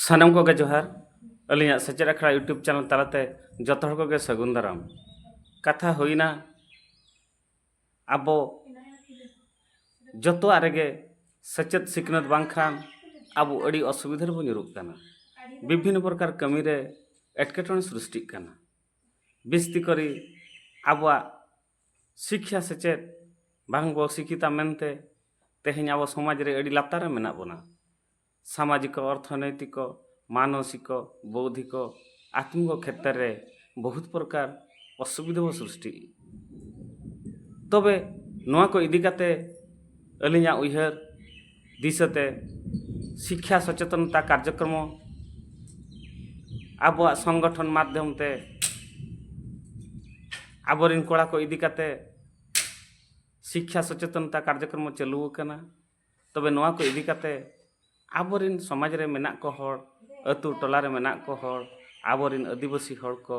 ᱥᱟᱱᱟᱢ ᱠᱚᱜᱮ ᱡᱚᱦᱟᱨ ᱟᱹᱞᱤᱧᱟᱜ ᱥᱮᱪᱮᱫ ᱟᱠᱷᱲᱟ ᱤᱭᱩᱴᱩᱵᱽ ᱪᱮᱱᱮᱞ ᱛᱟᱞᱟᱛᱮ ᱡᱚᱛᱚ ᱦᱚᱲ ᱠᱚᱜᱮ ᱥᱟᱹᱜᱩᱱ ᱫᱟᱨᱟᱢ ᱠᱟᱛᱷᱟ ᱦᱩᱭᱱᱟ ᱟᱵᱚ ᱡᱚᱛᱚᱣᱟᱜ ᱨᱮᱜᱮ ᱥᱮᱪᱮᱫ ᱥᱤᱠᱷᱱᱟᱹᱛ ᱵᱟᱝᱠᱷᱟᱱ ᱟᱵᱚ ᱟᱹᱰᱤ ᱚᱥᱩᱵᱤᱫᱷᱟ ᱨᱮᱵᱚ ᱧᱩᱨᱩᱜ ᱠᱟᱱᱟ ᱵᱤᱵᱷᱤᱱᱱᱚ ᱯᱨᱚᱠᱟᱨ ᱠᱟᱹᱢᱤ ᱨᱮ ᱮᱴᱠᱮᱴᱚᱬᱮ ᱥᱨᱤᱥᱴᱤᱜ ᱠᱟᱱᱟ ᱵᱤᱥᱛᱤ ᱠᱚᱨᱮ ᱟᱵᱚᱣᱟᱜ ᱥᱤᱠᱠᱷᱟ ᱥᱮᱪᱮᱫ ᱵᱟᱝ ᱵᱚ ᱥᱤᱠᱠᱷᱤᱛᱟ ᱢᱮᱱᱛᱮ ᱛᱮᱦᱮᱧ ᱟᱵᱚ ᱥᱚᱢᱟᱡᱽ ᱨᱮ ᱟᱹᱰᱤ ᱞᱟᱛᱟᱨ ᱨᱮ ᱢᱮᱱᱟᱜ ᱵᱚᱱᱟ ᱥᱟᱢᱟᱡᱤᱠᱚ ᱚᱨᱛᱷᱚᱱᱳᱭᱛᱤᱠᱚ ᱢᱟᱱᱚᱥᱤᱠᱚ ᱵᱳᱣᱫᱷᱤᱠᱚ ᱟᱛᱢᱤᱠᱚ ᱠᱷᱮᱛᱨᱮ ᱨᱮ ᱵᱚᱦᱩᱛ ᱯᱨᱚᱠᱟᱨ ᱚᱥᱩᱵᱤᱫᱷᱟ ᱵᱚ ᱥᱨᱤᱥᱴᱤ ᱛᱚᱵᱮ ᱱᱚᱣᱟ ᱠᱚ ᱤᱫᱤ ᱠᱟᱛᱮ ᱟᱹᱞᱤᱧᱟᱜ ᱩᱭᱦᱟᱹᱨ ᱫᱤᱥᱟᱹᱛᱮ ᱥᱤᱠᱠᱷᱟ ᱥᱚᱪᱮᱛᱚᱱᱚᱛᱟ ᱠᱟᱨᱡᱚᱠᱨᱚᱢᱚ ᱟᱵᱚᱣᱟᱜ ᱥᱚᱝᱜᱚᱴᱷᱚᱱ ᱢᱟᱫᱽᱫᱷᱚᱢ ᱛᱮ ᱟᱵᱚᱨᱮᱱ ᱠᱚᱲᱟ ᱠᱚ ᱤᱫᱤ ᱠᱟᱛᱮ ᱥᱤᱠᱠᱷᱟ ᱥᱚᱪᱮᱛᱚᱱᱚᱛᱟ ᱠᱟᱨᱡᱚᱠᱨᱚᱢᱚ ᱪᱟᱹᱞᱩ ᱟᱠᱟᱱᱟ ᱛᱚᱵᱮ ᱱᱚᱣᱟ ᱠᱚ ᱤᱫᱤ ᱠᱟᱛᱮ ᱟᱵᱚᱨᱮᱱ ᱥᱚᱢᱟᱡᱽ ᱨᱮ ᱢᱮᱱᱟᱜ ᱠᱚ ᱦᱚᱲ ᱟᱹᱛᱩ ᱴᱚᱞᱟ ᱨᱮ ᱢᱮᱱᱟᱜ ᱠᱚ ᱦᱚᱲ ᱟᱵᱚᱨᱮᱱ ᱟᱹᱫᱤᱵᱟᱹᱥᱤ ᱦᱚᱲ ᱠᱚ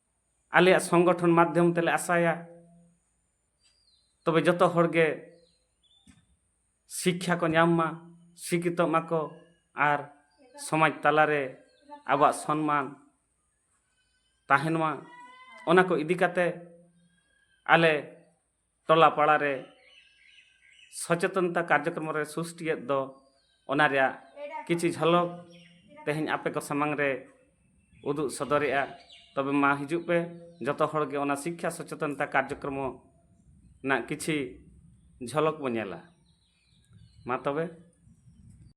ᱟᱞᱮᱭᱟᱜ ᱥᱚᱝᱜᱚᱴᱷᱚᱱ ᱢᱟᱫᱽᱫᱷᱚᱢ ᱛᱮᱞᱮ ᱟᱥᱟᱭᱟ ᱛᱚᱵᱮ ᱡᱚᱛᱚ ᱦᱚᱲ ᱜᱮ ᱥᱤᱠᱠᱷᱟ ᱠᱚ ᱧᱟᱢ ᱢᱟ ᱥᱤᱠᱷᱤᱛᱚᱜ ᱢᱟᱠᱚ ᱟᱨ ᱥᱚᱢᱟᱡᱽ ᱛᱟᱞᱟᱨᱮ ᱟᱵᱚᱣᱟᱜ ᱥᱚᱱᱢᱟᱱ ᱛᱟᱦᱮᱱ ᱢᱟ ᱚᱱᱟ ᱠᱚ ᱤᱫᱤ ᱠᱟᱛᱮ ᱟᱞᱮ ᱴᱚᱞᱟ ᱯᱟᱲᱟ ᱨᱮ ᱥᱚᱪᱮᱛᱚᱱᱛᱟ ᱠᱟᱨᱡᱚᱠᱨᱚᱢ ᱨᱮ ᱥᱩᱥᱴᱤᱭᱮᱫ ᱫᱚ ᱚᱱᱟ ᱨᱮᱭᱟᱜ ᱠᱤᱪᱷᱩ ᱡᱷᱚᱞᱚᱠ ᱛᱮᱦᱮᱧ ᱟᱯᱮ ᱠᱚ ᱥᱟᱢᱟᱝ ᱨᱮ ᱩᱫᱩᱜ ᱥᱚᱫᱚᱨᱮᱜᱼᱟ ᱛᱚᱵᱮ ᱢᱟ ᱦᱤᱡᱩᱜ ᱯᱮ ᱡᱚᱛᱚ ᱦᱚᱲ ᱜᱮ ᱚᱱᱟ ᱥᱤᱠᱠᱷᱟ ᱥᱚᱪᱮᱛᱚᱱᱛᱟ ᱠᱟᱨᱡᱚᱠᱨᱚᱢ ᱨᱮᱱᱟᱜ ᱠᱤᱪᱷᱩ ᱡᱷᱚᱞᱚᱠ ᱵᱚ ᱧᱮᱞᱟ ᱢᱟ ᱛᱚᱵᱮ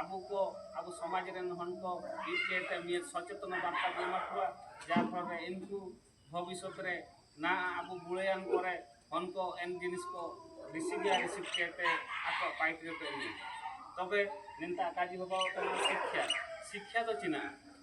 ᱟᱵᱚ ᱠᱚ ᱟᱵᱚ ᱥᱚᱢᱟᱡᱽ ᱨᱮᱱ ᱦᱚᱲ ᱠᱚ ᱢᱤᱫᱴᱮᱡ ᱛᱮ ᱢᱤᱫ ᱥᱚᱪᱮᱛᱚᱱ ᱵᱟᱨᱛᱟ ᱵᱚᱱ ᱮᱢᱟ ᱠᱚᱣᱟ ᱡᱟᱨ ᱯᱷᱚᱞ ᱨᱮ ᱤᱱᱠᱩ ᱵᱷᱚᱵᱤᱥᱚᱛ ᱨᱮ ᱱᱟ ᱟᱵᱚ ᱵᱩᱲᱟᱹᱭᱟᱱ ᱠᱚᱨᱮ ᱦᱚᱱ ᱠᱚ ᱮᱱ ᱡᱤᱱᱤᱥ ᱠᱚ ᱨᱤᱥᱤᱵᱷ ᱭᱟ ᱨᱤᱥᱤᱵᱷ ᱠᱮᱛᱮ ᱟᱠᱚ ᱯᱟᱭᱤᱴ ᱨᱮ ᱯᱮ ᱤᱫᱤᱭᱟ ᱛᱚᱵᱮ ᱱᱮᱱᱛᱟ ᱠᱟᱡᱤ ᱵᱟᱵᱟ ᱠᱚ ᱥᱤᱠᱠᱷᱟ ᱥᱤᱠᱠᱷᱟ ᱫᱚ ᱪᱮᱱᱟᱜᱼᱟ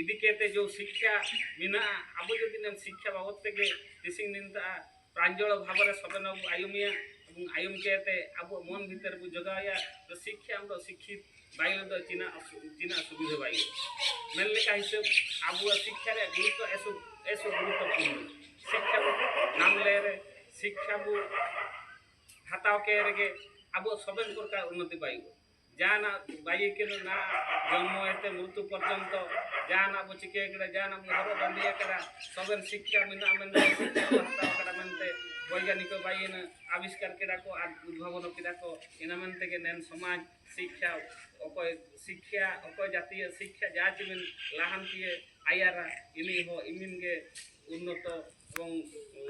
ᱤᱫᱤ ᱠᱟᱛᱮ ᱡᱚ ᱥᱤᱠᱠᱷᱟ ᱢᱮᱱᱟᱜᱼᱟ ᱟᱵᱚ ᱡᱩᱫᱤ ᱱᱮᱢ ᱥᱤᱠᱠᱷᱟ ᱵᱟᱵᱚᱫ ᱛᱮᱜᱮ ᱛᱤᱥᱤᱝ ᱱᱤᱱᱛᱟ ᱯᱨᱟᱧᱡᱚᱲ ᱵᱷᱟᱵᱨᱮ ᱥᱚᱵᱮᱱ ᱵᱚ ᱟᱭᱩᱢᱤᱭᱟ ᱮᱵᱚᱝ ᱟᱭᱩᱢ ᱠᱟᱛᱮ ᱟᱵᱚ ᱢᱚᱱ ᱵᱷᱤᱛᱟᱹᱨ ᱵᱚ ᱡᱚᱜᱟᱣᱭᱟ ᱛᱚ ᱥᱤᱠᱠᱷᱟ ᱟᱢ ᱫᱚ ᱥᱤᱠᱠᱷᱤᱛ ᱵᱟᱭ ᱞᱮᱫᱚ ᱪᱤᱱᱟ ᱪᱤᱱᱟ ᱥᱩᱵᱤᱫᱷᱟ ᱵᱟᱭ ᱢᱮᱱ ᱞᱮᱠᱟ ᱦᱤᱥᱟᱹᱵ ᱟᱵᱚ ᱥᱤᱠᱠᱷᱟ ᱨᱮ ᱜᱩᱨᱩᱛᱛᱚ ᱮᱥᱚ ᱮᱥᱚ ᱜᱩᱨᱩᱛᱛᱚᱯᱩᱨᱱᱚ ᱥᱤᱠᱠᱷᱟ ᱵᱚ ᱧᱟᱢ ᱞᱮ ᱨᱮ ᱥᱤᱠᱠᱷᱟ ᱵᱚ ᱦᱟᱛᱟᱣ ᱠᱮ ᱨᱮᱜᱮ ᱟᱵᱚ ᱥᱚᱵᱮᱱ ᱯᱨᱚᱠᱟᱨ ᱩᱱᱱᱚᱛᱤ ᱵᱟᱭ ᱡᱟᱦᱟᱱᱟᱜ ᱵᱟᱭᱤ ᱠᱟᱱᱟ ᱱᱟ ᱡᱚᱱᱢᱚ ᱮᱛᱮ ᱢᱨᱩᱛᱩ ᱯᱚᱨᱡᱚᱱᱛᱚ ᱡᱟᱦᱟᱱᱟᱜ ᱵᱚ ᱪᱤᱠᱟᱹ ᱠᱟᱫᱟ ᱡᱟᱦᱟᱱᱟᱜ ᱵᱚ ᱦᱚᱨᱚᱜ ᱵᱟᱸᱫᱮ ᱠᱟᱫᱟ ᱥᱚᱵᱮᱱ ᱥᱤᱠᱠᱷᱟ ᱢᱮᱱᱟᱜᱼᱟ ᱢᱮᱱᱛᱮ ᱥᱤᱠᱠᱷᱟ ᱠᱚ ᱦᱟᱛᱟᱣ ᱠᱟᱫᱟ ᱢᱮᱱᱛᱮ ᱵᱳᱭᱜᱟᱱᱤᱠ ᱵᱟᱭᱤᱱ ᱟᱵᱤᱥᱠᱟᱨ ᱠᱮᱫᱟ ᱠᱚ ᱟᱨ ᱩᱫᱵᱷᱟᱵᱚᱱ ᱠᱮᱫᱟ ᱠᱚ ᱤᱱᱟᱹ ᱢᱮᱱ ᱛᱮᱜᱮ ᱱᱮᱱ ᱥᱚᱢᱟᱡᱽ ᱥᱤᱠᱠᱷᱟ ᱚᱠᱚᱭ ᱥᱤᱠᱠᱷᱟ ᱚᱠᱚᱭ ᱡᱟᱛᱤᱭᱚ ᱥᱤᱠᱠᱷᱟ ᱡᱟ ᱪᱤᱢᱤᱱ ᱞᱟᱦᱟᱱᱛᱤᱭᱮ ᱟᱭᱟᱨᱟ ᱤᱱᱤ ᱦᱚᱸ ᱤᱢᱤᱱ ᱜᱮ ᱩᱱᱱᱚᱛᱚ ᱮᱵᱚᱝ